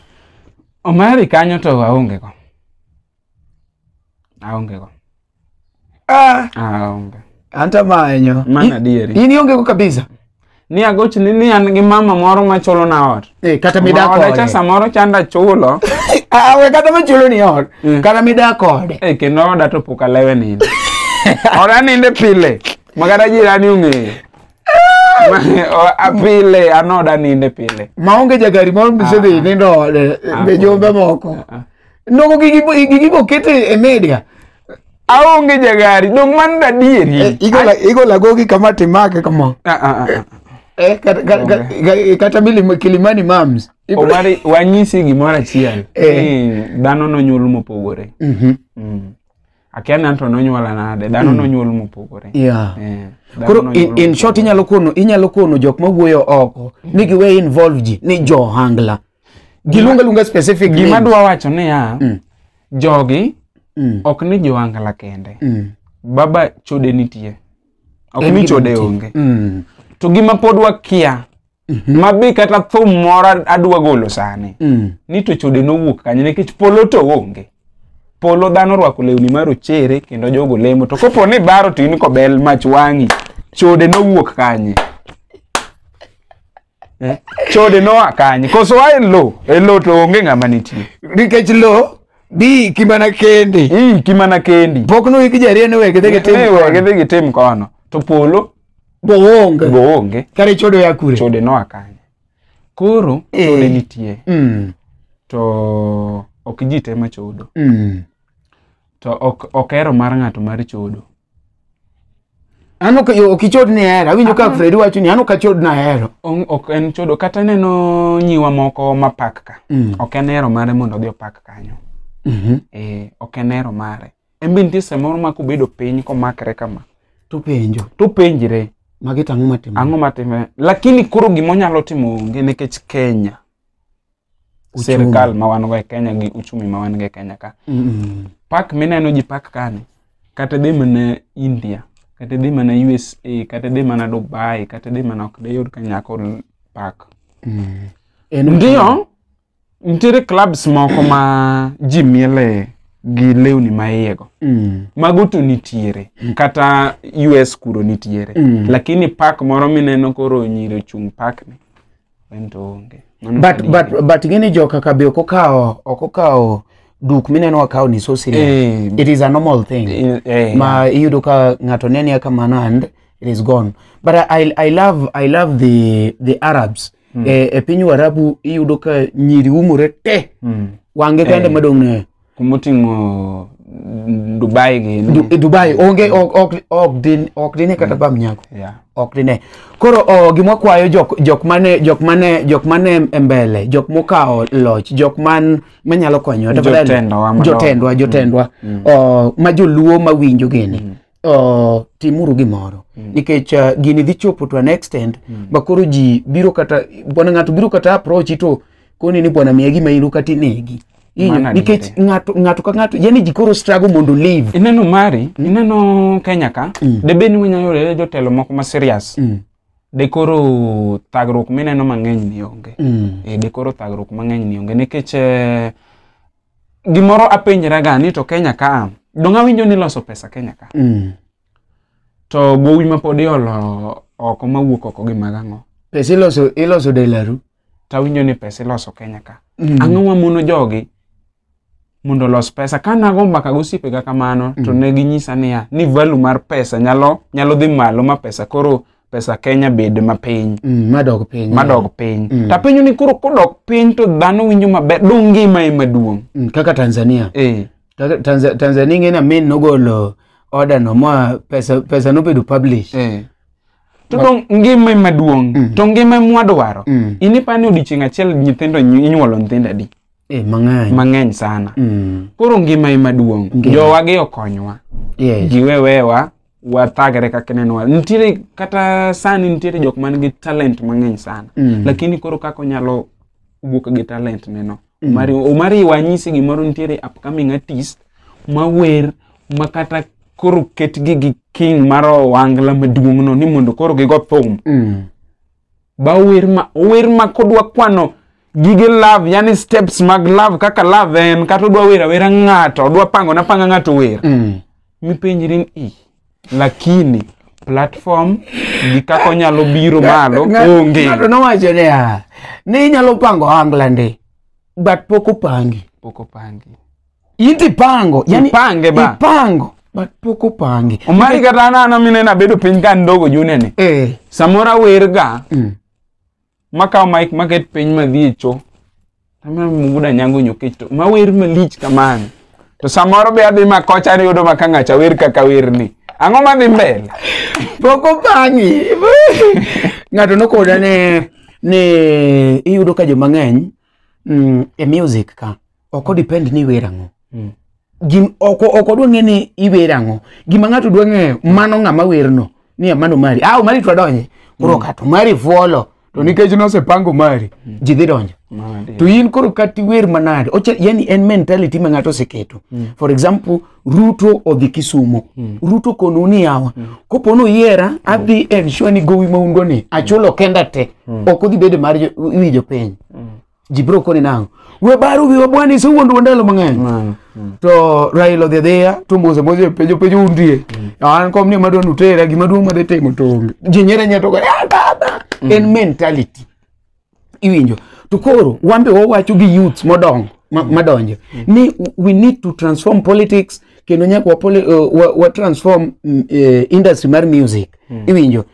Omari kanyo to aonge go. aonge go Ah, aonge anta manyo. Mana adieri. In ionge go kabisa. ni agoch ni ni an gi mama moro ma chulo na ot Eh, kata mida Ma oda cha kode. samoro chanda chulo Ah, we kata machulo ni ot. Mm. Kata mida kode. e kendo oda to pok alewe ninde oda ninde pile ma kata jirani ong'eyo Ma- o- a- pile an oda ninde pile Maonge jagari moro misedhi nindo ode. Be jombe moko. Ah, Nogo gigi bo- gigi boket e e media. Aonge jagari, dong man dadieri. Eh, igola igola gogi kama timake kama Ah, ah, ah, ah. eh kata kata- kata- kata mili kilimani moms Omari wanyisi gimoro achiel. Eh. Ni dhano nonyuol mopogore. Mhm. Mm. Akia ni anto nonyuola nade, dhano nonyuol mopogore. yeah Eh, dhano koro nonyuol in, in short inyalo kono inyalo kono jok ma wuoyo oko ni giwe involve ji ni johangla Giluonga luonga specific gima names. dwa wacho niya Mm. jogi Mm. ok ni joangla kende Mm. baba chode nitie ok En ni gima chode nitie. onge Mm. to gima pod wakia ma be kata thum moro adwa golo sani Mm. ni to chode nowuok kanye nikech polo to onge polo dhano orwako lewni ma rochere kendo jogo lemo to kopo ni baro to in kobel mach wang'i chode nowuok kanye Eh, Chode noa kanye? Koso wa e lo, e lo to onge ng'ama nitie. nikech lo bi kimana kendi Ii kimana kendi. pok no iki jarie ne wege dhege tim Ewe gidhi gitim kono. To polo boonge go onge. kare chodo ya kure Chode noa kanye? Koro Eh. chode nitie. Mm, To ok ji te ma chodo. mm. To ok ok hero mar ng'ato mar chodo. An ok yo- ok ichod ni hero. Awinjo ka Fredi wacho ni an ok achod na hero. Ong- ok en chodo kata ineno nyiwa moko mapak ka Mm. ok en hero mare mondo odhi opak kanyo Mhm. eh, ok en hero mare en be nitie samoro ma kobedo piny komakre kama To penjo. to penjre Magi tang'o matimo. ang'o matime lakini koro gima onyalo timo onge nikech kenya Uchumi. sirkal ma wan go e kenya gi uchumi ma wan go e kenya ka Mm. pak mineno ji pak kani kata dhi mana india kata dhi mana usa kata dhi mana dubai kata dhi mana ok diyud ka nyako l- pak Mm. En ndiyo nitiere clubs moko ma ji miele gi lewni ma iyego Mm. mago to nitiere kata us kuro nitiere Mm. lakini pak moro mineno koro nyiri ochung' pakni En to onge. Mano but kadi- but but ing'eni jo kaka be ok okawo ok okawo duk mineno wakawo ni so serious Eh, it is a normal thing eh, eh, ma iyudo ka ng'ato nenia kamano and it is gone but I, I love I love the the Arabs mm. e, e piny Warabu iyudo ka nyiri umore te mm. wange kende Eh. madong' ne kumoting'o dubai gi Du- e dubai onge ok- ok- ok din- ok dine kata bam nyako Yeah. ok dine koro o, gima kwayo jok jok mane jok mane jok mane e mbele jok mokawo loch jok man manyalo konyo tafadhali. Jotendowa madongo. jotendwa jotendwa o, ma joluo mawinjo gini uh, timuru gimoro mm. nikech uh, gini dhi chopo to an extent mm. ma koro ji biro kata bwana ng'ato biro kata approach to koni ni bwana miya gima in ukati negi nikech ng'ato ng'ato ka ng'ato yani ji koro struggle mondo live ineno mari mm. ineno kenya ka mm. de beni winya yore jotelo moko ma serious mm. de koro thagruok mineno mang'eny ni onge mm. e de koro thagruok mang'eny ni onge nikech eh, gimoro apenjra ga ni to Kenya ka donga winjo ni loso pesa Kenya ka Mm. to gowi ma pod iolo oko ma wuok oko gi magang'o Pesa iloso iloso delaru. to awinjo ni pesa iloso Kenya ka Mm. ang'o ma mono jogi mondo olos pesa ka nago mbaka gosiepega kamano to ne ginyisa niya ni value mar pesa nyalo nyalo dhi malo ma pesa koro pesa Kenya bed mapiny Mm, madog piny madog piny Mm. to apenjo ni koro kodok piny to dhano winjo maber dong ngima ema duong' Mm, kaka tanzania eh Kaka Tanza- tanzania ing'e ni amin nogolo order no ma pesa pesa nobedo publish eh to dong ngima ema duong' Mm. to ngima ema wadwaro Mm. in ipa ni odiechieng' achiel nyithindo inyu- inyuolo nyithindo adi eh, mang'eny mang'eny sana Mm, koro ngima ema duong' Ngima. jowagi okonywa yes giwewewa wathagre kaka ineno wa- nitiere kata sani nitiere jok man gi talent mang'eny sana Mm. lakini koro kaka onyalo wuok gi talent neno omari omari wanyisi gimoro nitiere upcoming artist mawer ma kata koro ketgi gi king mar owangla maduong'no ni mondo koro gigo thum Mm. ba ower ma ower ma kodwa kwano gige love yani steps mag love kaka love en kata odwa wer awera ng'ato odwa pango na panga ng'ato wer Mm. mipenjri ni "Ih, lakini platform gi kaka onyalo biro malo Ng'a- onge ng'ato nowacho niya ni inyalo pango ohangla ndi but pok opangi pok opangi inti pango yani Ipange ba. ipango but pok opangi omari kata anana minena bedo piny ka ndogo junene eh samoro awerga mm. makawo mic maket piny madhi e cho tamna mubuda nyango nyokech to mawer malich kamano to samoro be adhi makocha niyudo ma ka ng'acha wer kaka werni ang'o madhi mbele pok opangi ng'ato nokoda ni ni iyudo ka jomang'eny mm, e music ka ok odepend ni iwer ang'o mm. ok odwa ng'e ni iwer ang'o gima ng'ato dwa ng'eyo mano ng'ama werno ni mano mari ah mari to adonje koro mm. kato mari fuolo to nikech nosepango mari mm. ji dhi donjo to in koro kati wer manade yani en mentality ma ng'ato oseketo mm. for example ruto odhi kisumo mm. ruto konu ni yawa mm. kopo ni oyiera adhi ensure ni gowi ma un go ni achulo kenda te mm. ok odhi bedo mar wi jopiny mm. ji biro koni nang'o we baro wiwa bwana isewuondwa ndalo mang'eny Mano. Mm. to raila odhi adhiya to mose mose penjo penjo undie an kom ni madwa nutera gima duong' madhi timo to onge ji nyere nyere to go, "Ah, baba en mentality iwinjo to koro wan be wawacho gi youths modongo ma- madonjo ni we need to transform politics kendo nyaka wa, poli, uh, wa, wa transform mm, eh, industry mar music iwinjo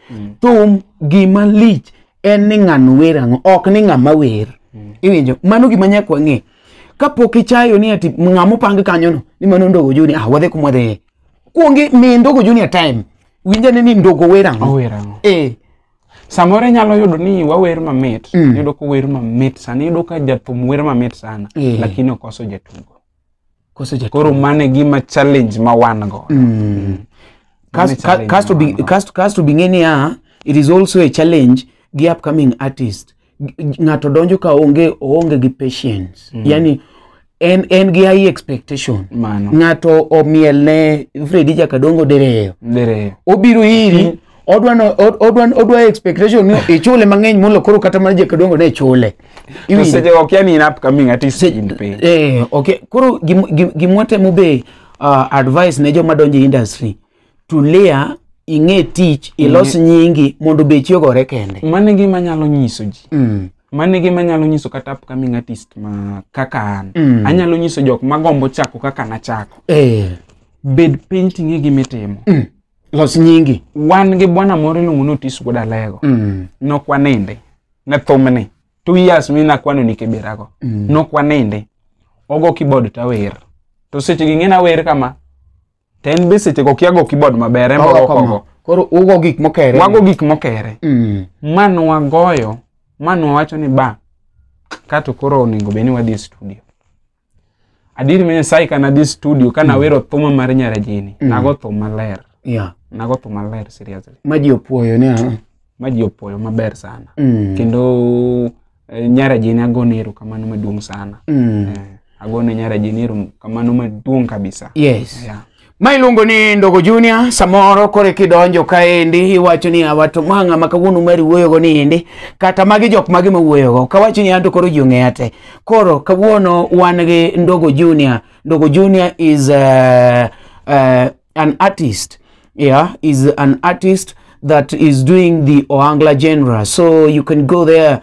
thum gima lich en ni ng'ano wer ang'o ok ni ng'ama wer iwinjo mano gima nyaka wang'e kapok ichayo ni ati ng'ama opang kanyono ni mano ndogo juni ah wadhi kuma wadhiye kuongi mi ndogo juni a time winja ni ni ndogo wer ang'o Ower ang'o? eh Samoro inyalo yudo ni wawer mamit, Mm. yudo ka wer mamit sana, yudo ka jathum wer mamit sana, Eh. lakini okoso jatugo. Koso jatuo. koro mane gima challenge ma wan go Mm. Kas- Mane ka- challenge kasto bi- mano. kasto- kasto bing'e niya it is also a challenge gi upcoming artist G- ng'ato donjo ka onge oonge gi patience yani en, en gi high expectation mano ng'ato omiel ne fredi jakadongo dereyo dereyo obiro iri odwa no- od- odwa odwa expectation ni ichule mang'eny molo koro kata mana jekadongo ne chule To Iwinjo? seche go kia ni in upcoming artist Se- in piny. eh, okay koro gim- gim- gimwatemo be uh, advice ne joma donjo e industry tulia ing'e tich ilos nyingi mondo bechi ogore kende Mano e gima nyalo nyiso ji. mm. Mano e gima nyalo nyiso kata upcoming artist ma kaka an. Mm. Anyalo nyiso jok magombo chako kaka nachako. eh. Bed piny ting'e gima itimo. Los nyingi. Wan gi bwana moro iluongo ni Otis Wuod Alego. Mm. Nok waninde. Ne thumni. Two years mi nakwano ni kibirago. Mm. Nok waninde. Ogo keyboard to awer. To seche gi ng'ena wer kama. To en be seche go kia go keyboard maber. En Ogo ogo kama. ogo. Koro ugo gik mokere. Wago gik mokere. Mm. Ma nwagoyo. Ma nwawacho ni ba. Kato koro onego bed ni wadhi e studio. Adier ma Nyasaye ka nadhi studio ka nawero thuma mar Nyarajini, nago thum maler. Yeah. Nago thum maler seriously. Ma ji opuoyo ni ah. Ma ji opuoyo maber sana. Mm. Kendo eh, Nyarajini agone erokamano maduong' sana. Mm. Eh, agone Nyarajini erokamano maduong' kabisa. Yes. Yeah. Ma iluongo ni Ndogo Junior, samoro kore kidonjo kaendi iwacho ni awato manga ma kawuono mari wuoyogo ni endi kata magi jok magi ma wuoyogo kawacho ni anto koro ji ong'eya te. Koro kawuono wan gi Ndogo Junior. Ndogo Junior is uh, uh, an artist. Yeah, is an artist that is doing the Oangla genre. So you can go there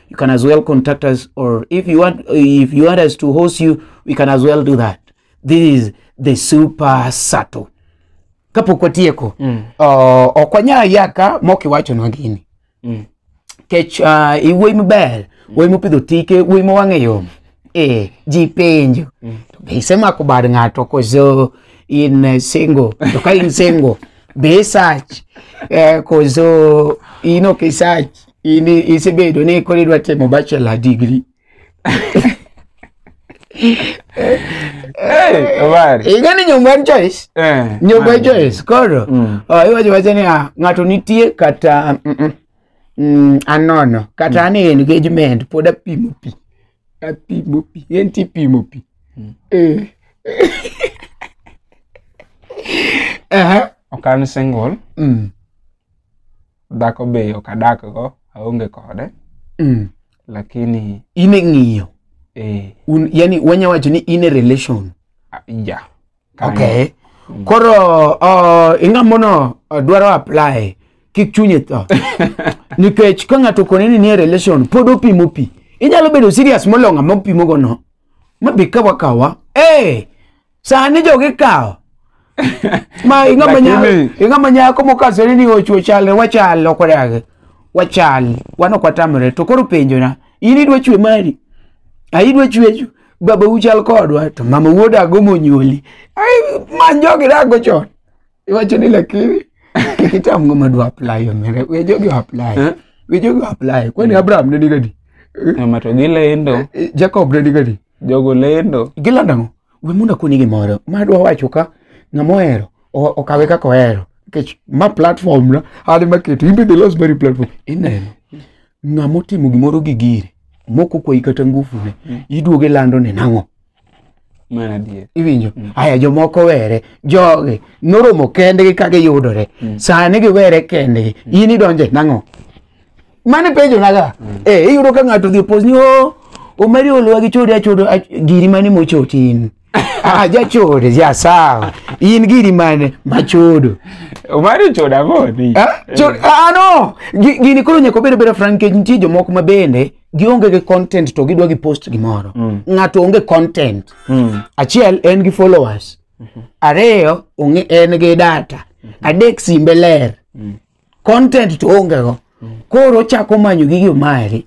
you can as well contact us or if you want if you want us to host you we can as well do that this is the super sato kapok watieko mm. uh, ok wanyal yaka mok iwachonwa gini mm. kech uh, iwuoyi maber mm. wuoyi mopidho tike wuoyi ma wang'e yom eh, ji penjo mm. to be isemako bad ng'ato koso in uh, single to ka in single be isach eh, koso in ok isach in isebedo ni koro idwa timo bachelor degree Hey, Omari. ing'e ni nyombo en choice Eh, nyombo en Omari. choice koro Mm. oh, iwacho wacha ni ah, ng'ato nitie kata mm, mm, mm, anono kata an e engagement pod apimo pi apimo pi en ti pimo pi Eh. Aha. Ok an single. Mm. dhako be ok adak go aonge kode Mm. lakini in e ng'iyo eh, Un, yani wanya wacho ni in e relation a- ja Kanyo. okay Mm. koro uh, ing'amono uh, dwaro apply kik chunye tho nikech ka ng'ato kone ni nie relation pod opimo pi inyalo bedo serious molonga mopimogo no mabi kawa kawa hey, sani jogi kawo ma ing'ama nya- Lakini- ing'ama nyako mokasore ni ochwo chal wachal ok odagi wachal wan ok watamre to koro penjona in idwa chwe mari a idwa chwecho baba uchal kodwa to mama wuodago monyuoli Ai, man jogi dago chon iwacho ni lakini kik itam ng'ama dwa apply omera we jogi apply Eh? we jogi apply kwani abraham ne nigadi Ng'ama to gilendo jacob ne nigadi Jogo lendo. Gilando ang'o? We mondo akoni gimoro. Ma adwa wacho ka ng'ama ohero o- okawe kaka ohero. Nikech ma platform na an ema keto. In be the lost very platform. Ineno. Ng'ama otimo gimoro gi gire. Moko kwayi kata ngufu ne. Iduoge lando ne nang'o? Mana adier. iwinjo aya jomoko were jogi noromo kendgi ka giyudore sani giwere kendgi in idonje nang'o mane penjo naga mm. eh iyudo ka ng'ato dhi opos ni o oh, omari oluwa gi chode achodo giri mane mochoti in ah jachode ja sawa in giri mane machodo omari choda goni ah chod ah no gini koro nyako bedo bedo frank kech nitie jomoko ma bende gionge gi content to gidwa gi post gimoro mm. ng'ato onge content mm. achiel en gi followers mm -hmm. ariyo onge en gi data mm -hmm. adek simbe ler mm. content to onge go koro ochako manyo gigi omari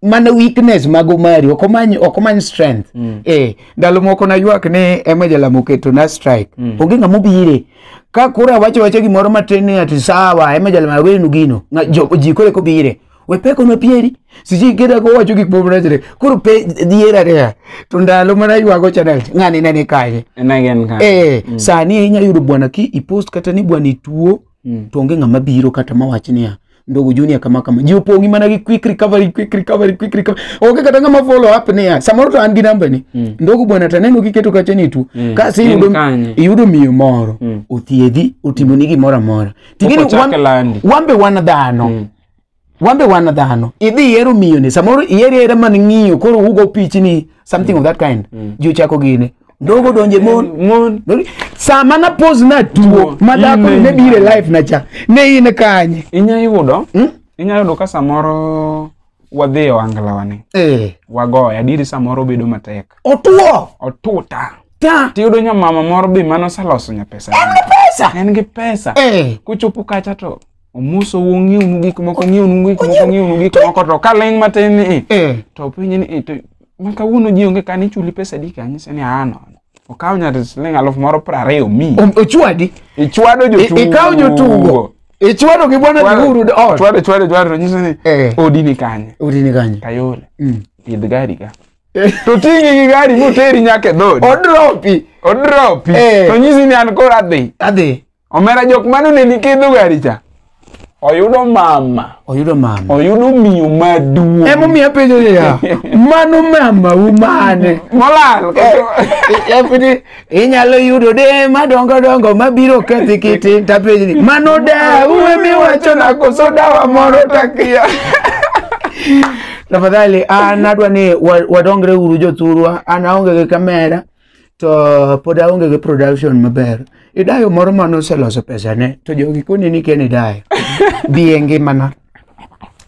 mana weakness mag omari ok omany ok omany strength eh ndalo moko naywak ni ema jalamo keto na strike onge ng'ama obire ka koro awacho wacha gimoro matin ni ati sawa ema jalamo awenu gino Ng'a- jo- ji koro eko bire we peko na pieri siji kida ko wacho gik moko rachre koro pe diera rea to ndalo mana ywago channel ng'ani ne ni kanye En again ka. eh sani inya yudo bwana ki ipost kata ni bwana ituo Mm. to onge ng'ama biro kata mawach niya ndogo junior kama kama ji opong'i mana gi quick recovery quick recovery quick recovery onge kata ng'ama follow up niya samoro to an gi namba ni Mm. ndogo bwana taneno kiketo kacha ni tuo Mm. kasi En iyudo kanye? iyudo miyo moro Mm. othiedhi otimoni gimoro amora Ting'eni Okochak wan- landi. wan be wan dhano Mm. wan be wan dhano idhi ihero miyoni samoro ihero ahera man ng'iyo koro ugo pichni something of that kind ji ochako gine ndogo donje mon Mon. Dori- sama na pose na tuo Tuo, ma dhako ine. ne bire life na cha ne in kanye Inya yudo, Hmm? inya yudo ka samoro wadhi e ohanglawani, eh wagoya, diri samoro bedo matek. otuo Otuta. ta Tiyudo nyamama moro be mane oseloso nyapesa. pesa En gi pesa. eh Kuchopo kacha to omuso wu ng'iwnu gik moko ng'iwnu gik moko ng'iwnu gik moko to ka ling' matin ni i Eh. to penye ni i to ma kawuono ji onge kani chuli pesa di kanyise ni aa nono okaw nyar siling' aluf moro piero ariyo mi Om- Ochwadi. ichwado I- jotugo Ikawo jotugo. Ichwado gi bwana Chwado- Giguru ot. chwado chwado chwado to nyise ni Eh. odi ni kanye Udi ni kanye. kayole Mm. idh gari ka Eh. to ting'i gi gari moteri nyaka e dhodi Odropi. odropi Eh. to nyisi ni an koro adhi Adhi. Omera jok mane oneni kidho gari cha. Oyudo mama. Oyudo mama. Oyudo miyo maduong'. Ema omiyo apenjo niya, mano mama u mane? Molal. Yapidi eh, eh, inyalo yudo de madongo dongo mabiro kethi kiti tapenjo ni mano da uwe miwacho na koso dawa moro takia. Tafadhali, ah, nadwa ni wadongre uru jothurwa, an aonge gi kamera. to pod aonge gi production maber idayo moro mane oseloso pesane to jogi koni ni ken idayo biye ngimana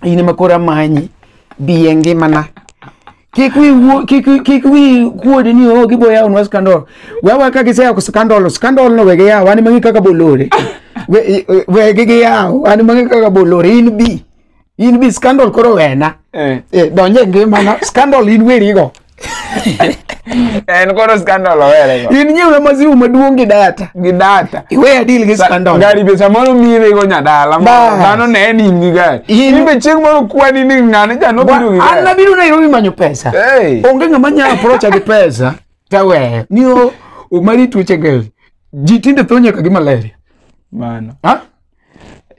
in ema koro amanyi biye ngimana kik wi wuo- kik wi- kik wi kuodi ni o gibo yawonwa scandal wewa ka giseyawo scandal scandal no wege yawo an mang'e kaka bolore We- we- wegi giyawo an mang'e kaka bolore in bi in bi scandal koro wena Eh. eh, donje ngimana scandal in werigo en koro scandal owerego in nyiewe maziwu maduong' gi data gi data iwe adil gi scandal gari be samoro mirego nyadala Bas. mano ne en in gi gari In- in be chieng' moro kwani ni ng'ane cha nobiro gi Wa- an gari nabiro nairobi manyo pesa Hey. onge ng'ama nya aprocha gi pesa taweyo ni o omari tuoche gel ji tinde tho nyaka gi malaria mano ha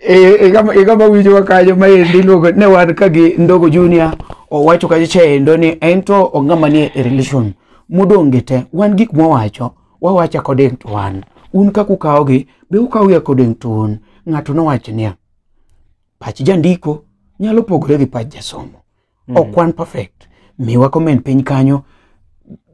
Eh, igama igama winjowa kanyo maendi iluongo ne wan ka gi ndogo junior owacho kacha chaendo ni en to ong'ama nie e relation modong' gi te wan gik mwawacho wawacho according to wan un kaka ukawogi be ukawogi according to un ng'ato nowacho niya pach jandiko nyalo pogore gi pach jasomo Mm. ok wan perfect miwa comment piny kanyo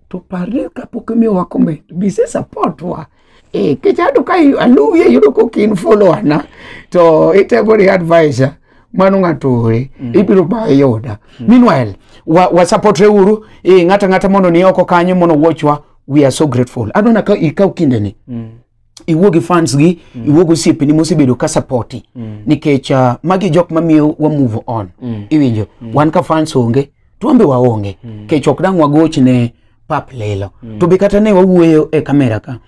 to parre kapok imiyowa comment bise support wa eh, kichado ka i- aluwi ayudo kok in follower na to itego ni advisor mano ng'ato ore ibiro ba yuda meanwhile wa, wa supportre uru eh, ng'ata ng'ata mondo ni oko kanyo mondo watchwa we are so grateful adona ka ikaw kindeni Mm. iwuo gi fans gi mm. iwuo gi osiepeni mosebedo ka sapoti mm. nikech uh, magi jok mamiyo wa move on mm. iwinjo mm. wan ka fans onge to wambe waonge mm. kech ok dang' wagoch ne pap lelo mm. to be kata ne wawuoyo e kamera ka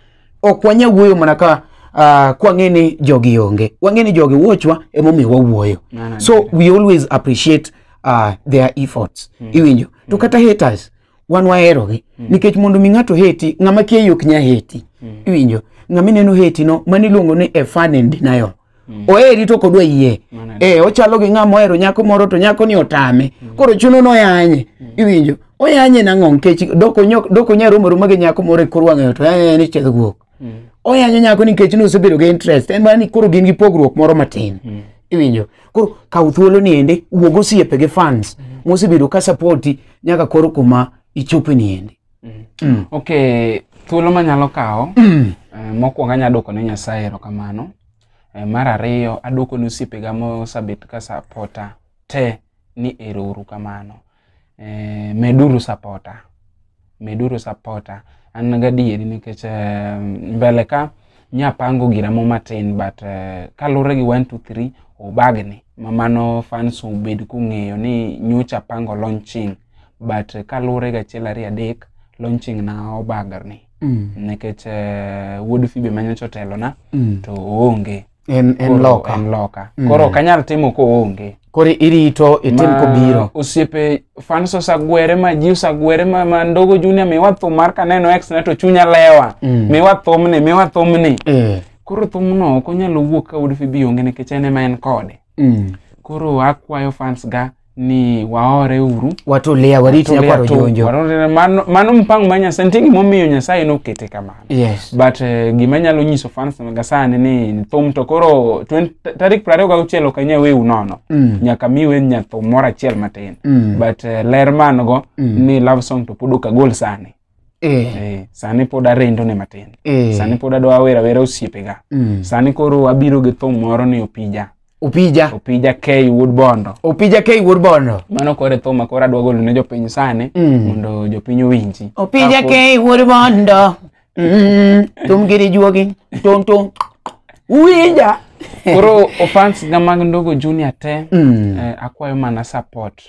ok wanya wuoyo mana ka uh, kwang'e ni jogi onge wang'e ni jogi wuochwa emomiyo wawuoyo so we always appreciate uh, their efforts mm. iwinjo to mm. kata haters wan waherogi mm. nikech mondo mi ng'ato heti ng'ama kia yok nya heti mm. iwinjo ng'ama ineno heti no mano iluongo ni a fan and denial mm. oheri to kodwa yie eh ochalo gi ng'ama ohero nyako moro to nyako ni otame mm. koro chuno no yanye mm. iwinjo oyanye nang'o nikech doko nyok doko nya romo romo gi nyako moro e kor wang'ayo to yanye ni chedh guok Mm. oyanyo nyako nikech nosebedo gi interest en mana ni koro gin gi pogruok moro matin mm. iwinjo koro kaw thuolo ni ende wuog osiepe gi fans mm. mosebedo ka sapoti nyaka koro kuma ichope ni ende mm. mm. ok thuolo manyalo kawo mm. eh, mokwongo anya dwoko ne nyasaye erokamano eh, mar ariyo adwoko ne osiepega mosebet ka sapota te ni ero uru kamano eh, meduru sapota meduru sapota an gadieri nikech eh, mbele ka nyapango gira mo matin but eh, kalure gi 1 2 3 obagni ma mano fans obed kung'eyo ni nyocha pango launching but eh, kalure gachiel ariyo adek launching na obagni Mm. nikech eh, wuod fibe manyocha otelona Mm. to oonge en en Koro loka en loka Mm. koro ok anyal timo koonge koro irito itim Ma kobiro osiepe fans osagwere ma ji osagwere ma, ma ndogo junior miwa thum mar kaneno ex na to chunya lewa Mm. miwa thumni miwa thumni eh koro thumno ok onyalo wuok ka Wood Phoebe onge nikech en ema en kode Mm. koro akwayo fans ga ni waore uru watulia wariti na kwaro jonjo Warolela, mano mano mpango ma nyasaye nitie gimomiyo nyasaye nokete kamano yes but eh, gima nyalo nyiso fans ga sani ni thum to koro 20 tarik prariyo gauchiel ok anya weu nono Mm. nyaka mi wen nyathum moro achiel matin Mm. but eh, ler man go Mm. ni love song to pod ok agol sani Eh. Eh, sani pod arendo ne matin Eh. sani pod adwa awera awera osiepega Mm. sani koro abiro gi thum moro ni opija Opija. opija k wuod bondo Opija K wuod bondo. mano koro e thum ma koro adwa golo ne jopiny sani Mm. mondo jopiny owinji Opija Kapod- K wuod bondo. Mm. Tum giri juogi. Tum tum. Uwinja. koro ofans ga mag ndogo junior te Mm. eh, akwayo mana support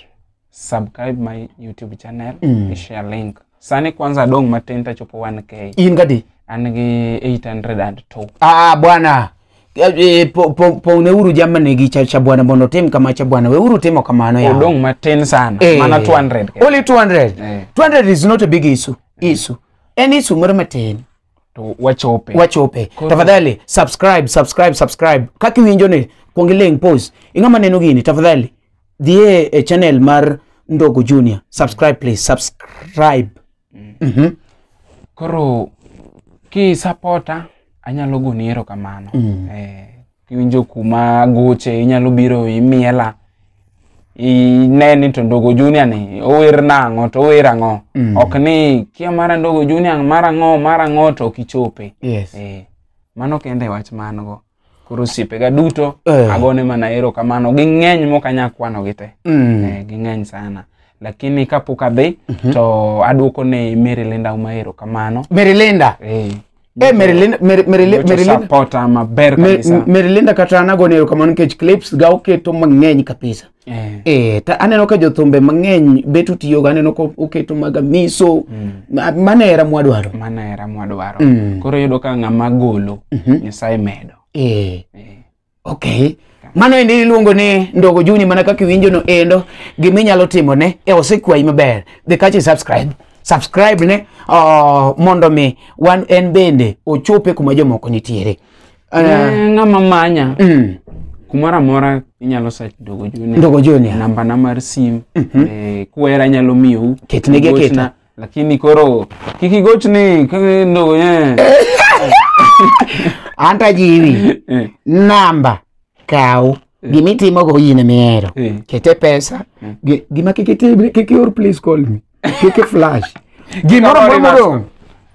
subscribe my youtube channel Mm. i share link sani kwanza adong' matin tachopo 1k in gadi an gi 802 ah bwana Eh, eh, po- po- pong'neuru jamani gi cha cha bwana mondo otim kama cha bwana weuru timo kamano yawa. odong' matin sana Eh, mana 200 kende. only 200 Eh. 200 is not a big issue issue en issue moro matin to wachope wachope Koro- tafadhali subscribe subscribe subscribe kaka iwinjo ni kuong iling pos ing'ama neno gini tafadhali dhie e channel mar ndogo junior subscribe please subscribe Mhm. koro kisapota anyalo goni erokamano Mm. eh, iwinjo kuma goche inyalo biro imiela ine ni to ndogo junior ni ower nang'o to ower ang'o Mm. ok ni kia mara ndogo junior mara ang'o mara ang'o to ok ichope Yes. Eh, mano kende wach man go koro osiepega duto Eh. agone mana erokamano ging'eny mok anyal kwanogi te Mm. Eh, ging'eny sana lakini kapok adhi to aduoko ne Mary Linda Uma erokamano Mary Linda. eh, Eh, Merilinda- Meri- Merili- Nyocha Merilinda- supporter maber Me- kabisa. Merilinda kata anago ni erokamano nikech clips ga oketo mang'eny kabisa. Eh. Eh, ta aneno ka jothumbe mang'eny bet utiyogo aneno ka oketo mag amiso ma- mano era mwadwaro. Mano era mwadwaro. Mm. Koro yudo ka ng'ama golo Nyasaye medo. Eh. Eh. Okay. Mano endi iluongo ni Ndogo Juni mana kaka iwinjo no endo gima inyalo timo ne e osekwayi maber. Dhi kachi subscribe. Subscribe ne oh, mondo mi wan en bende ochope kuma jomoko nitiere. Uh, Eh, ng'ama manya mm, kumoro amora inyalo search Ndogo Junior. Ndogo Junior. namba na mar sim eh, kwera nyalo miyou Ketnegi aketa. Gochna, lakini koro kik igochni kendo eh. An to ajiwi. Eh, Namba kaw gima itimogo in mihero. eh. Kete pesa. Gi- Gima kik itim, kik ior please call me. Kik i-flash. Gimoro Kik amora i-reverse modong'.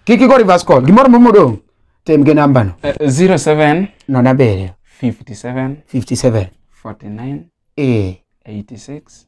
Kik igo reverse call. Gimoro amora modong'. Tem gi nambano. Eh, 07 Nono abiriyo. 57 57. 49 Eh. 86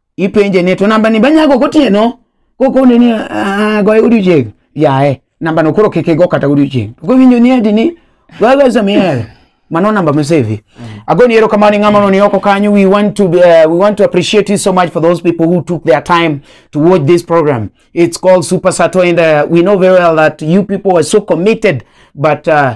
ipenje ni to namba ni banyago gotieno kokone ni "Ah, goye godiochieng' yaye namba no koro kik igo kata godiochieng' to kowinjo ni adi ni gogo samiel mano namba misevi agoni ero kamano ng'ama no ni oko kanyo we want to uh, we want to appreciate you so much for those people who took their time to watch this program it's called super sato and uh, we know very well that you people are so committed but uh,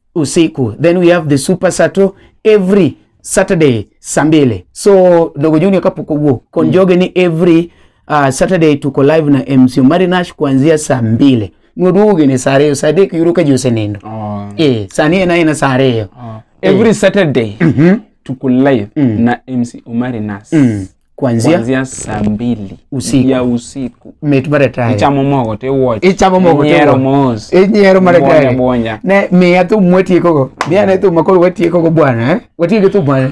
usiku then we have the super sato every saturday saa mbili so dogo junior kapok owuok konjoge ni every uh, saturday tuko live na mc omari nash kuanzia saa mbili noduoge ni saa ariyo saa adek yudo ka ji osenindo Oh. eh, sani en aena saa ariyo Oh. every saturday tuko live na mc omari nas kuanzia kuanzia saa mbili Usiku. ya usiku mit mar atari ichamo mogo tiwuoch Ichamo mogo tiwuoch. Inyiero mos inyiero mar Bwonya, atari bwonya. ne miya thum mwatiekogo miya ne thum makoro watiekogo bwana eh? watieko thum mane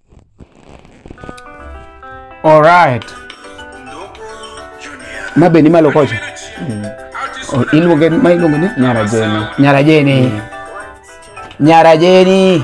Alright. Ma be ni malo kocha. O- Iluonge ma iluonge ni Nyara Jeni. Nyara Jeni. Nyara Jeni.